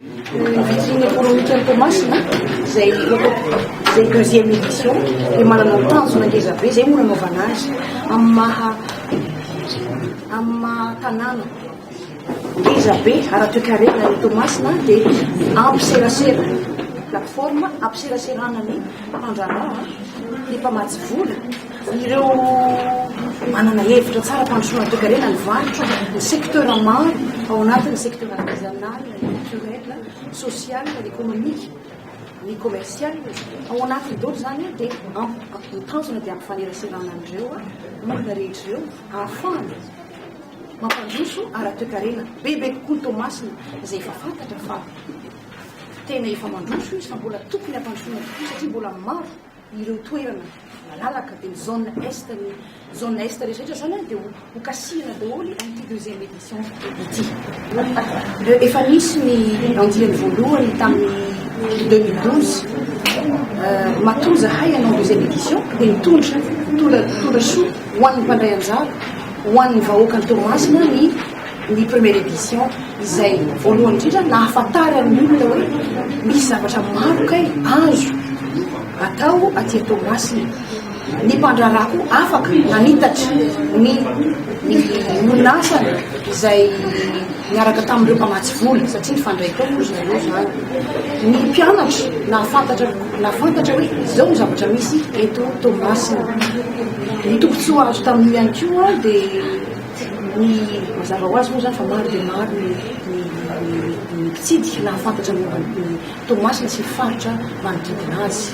Ny ekonomika ny Toamasina izay izay deuxième édition dia manana ny tanjona ngeza be izay no nanaovana azy amin'ny maha amin'ny maha tanàna ngeza be ara-toekarena ny Toamasina dia ampiserasera plateforme ampiseraserana ny mpandraharaha ny mpamatsy vola Ireo manana hevitra tsara fampandrosoana toekarena ny varotra, ny secteur maro ao anatin'ny secteur artisanal, culturel, social, économique, ny commercial. Ao anatin'ny dolo izany dia ny tanjona dia ampifaneraserana an'ireo olona rehetra ireo ahafahana mampandroso ara-toekarena. Bebe kokoa ny Toamasina izay efa fantatra fa tena efa mandroso io saingy mbola tokony hampandrosoana kokoa satria mbola maro ireo toerana malalaka dia ny zone est ny zone est rehetra rehetra zany dia ho kasihina daholo amin'ity deuxième édition ity efa nisy ny andiany voalohany tamin'ny 2012 matoa zahay ianao deuxième édition dia nitondra tondra soa ho an'ny mpandray anjara ho an'ny vahoakan'ny Toamasina ny ny première édition izay voalohany indrindra nahafantary amin'ny olona hoe misy zavatra maro kay azo atao aty Toamasina ny mpandraharaha koa afaka nanitatra ny ny olona asany izay niaraka tamin'ireo mpamatsy vola satria nifandray koa moa zareo zany ny mpianatra nahafantatra nahafantatra hoe izao ny zavatra misy eto Toamasina ny tombontsoa azo tamin'io ihany koa dia Ny mazava ho azy moa izany fa maro dia maro ny mpitsidika nahafantatra momba an'i Toamasina sy ny faritra manodidina azy.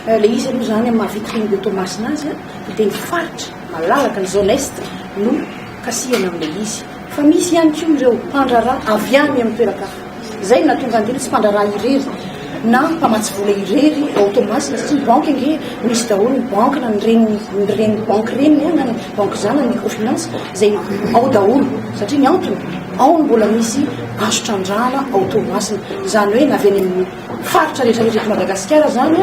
Ilay izy aloha izany amin'ny maha vitrine de Toamasina azy dia ny faritra malalaka ny zone est no kasihana amin'ilay izy. Fa misy ihany koa ireo mpandraharaha avy any amin'ny toeran-kafa. Izay no nahatonga an'ireny tsy mpandraharaha irery na mpamatsy vola irery ao Toamasina satria ny banky ange misy daholo ny banky na ny reniny ny reniny banky reniny na ny banky zanany ny microfinance izay ao daholo satria ny antony ao no mbola misy azo trandrahana ao Toamasina. Izany hoe na avy any amin'ny faritra rehetra rehetra eto Madagasikara izany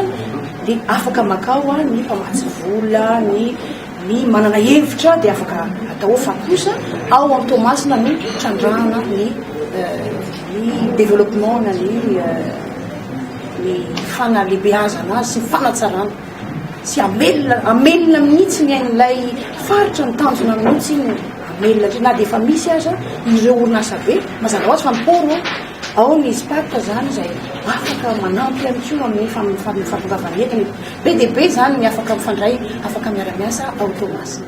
dia afaka makao ny mpamatsy vola, ny Ny manana hevitra dia afaka atao fa kosa ao amin'ny Toamasina no hitrandrahana ny ny développement na ny ny fanalehibeazana azy sy ny fanatsarana sy amelona amelona mihitsy ny ain'ilay faritra ny tanjona mihitsy ny amelona atry na dia efa misy aza ireo orinasa be mazava ho azy fa ny poro ao ny SPAT zany izay afaka manampy ihany koa amin'ny fahatongavan'ny entana Be dia be izany ny afaka mifandray, afaka miara-miasa ao Toamasina.